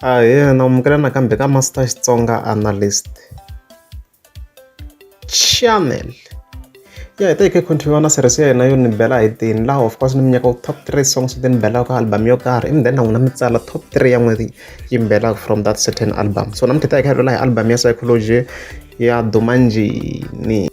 Ahee na amukela nakambe ka Master Xitsonga Analyst channel ya hi ta hi kha hi continue na series ya hina yo ni bela hi tini laha of course ni mi nyaka top three songs leti ni belaka album yo karhi and then na n'wina mi tsala top three ya n'wina yi mi belaka from that certain album so namuntlha hi ta hi kha hi lula hi album ya psychology ya duma njhini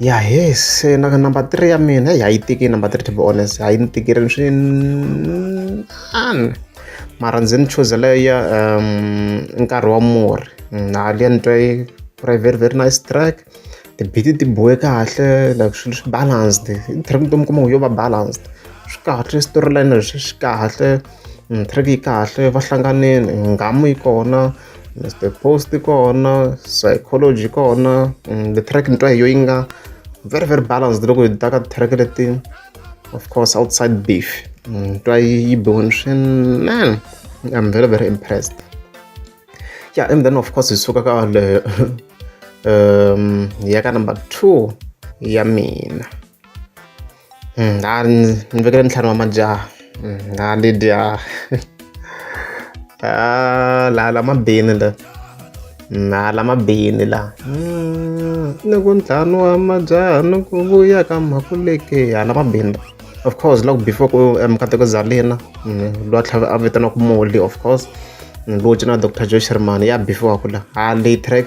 ya heyi se na number three ya mina heyi a yi tiki number three to be honest a yi ni tikirile swinani mara ndzi ni chuzela ya um nkarhi wa murhi na liya ni twa yi ri very very nice track tibiti ti bohe kahle like swilo swi balanced track to mi kuma yo va balanced swi kahle storyline swi kahle track yi kahle va hlanganile nghamu yi kona Mr Post kona psychology kona mm, the track ni twa hi yo yi nga very very balanced loko hi ta ka track leti of course outside beef mm, ni twa yi biwini swinene i'm very very impressed yeah and then of course hi suka ka leyo um ya ka number two ya mina Mm, a ni ni vekele ntlhanu wa majaha mm, a ni dya ah, la la mabini la na mm, la mabini la mm, ni ku ntlhanu wa majaha ni ku vuya ka makuleke ya la mabini of course loko before ku eh, mukateko zalina lwa tlhave a vitana ku moli of course lowu cina dr joe sherman ya before kula ha lay track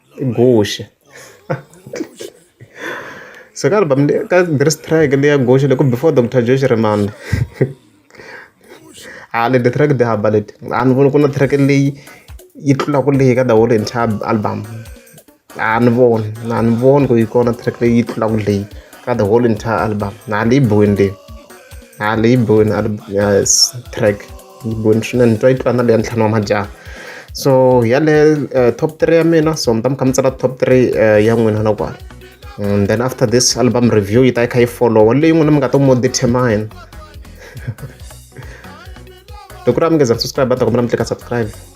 i guxe so ka album leyi ka this track leya guxe loko before Doctor Josh Rimani a leti track ti hamba leti a ni voni ku na track leyi yi tlulaka leyi ka the whole entire album a ni voni a ni voni ku yi kona track leyi yi tlulaka leyi ka the whole entire album na leyi bohini leyi na leyi bohini yes track Yimboni swinene ni twa yi tlula na leya ntlhanu wa majaha so yaleyo uh, top three ya mina so mi ta mi kha mi tsala top three uh, ya n'wina na kwala and then after this album review yi ta yi kha yi followa leyi n'wina mi nga to mo determine loko ri a mi ngeza ku subscribe ta kombela mi tlika subscribe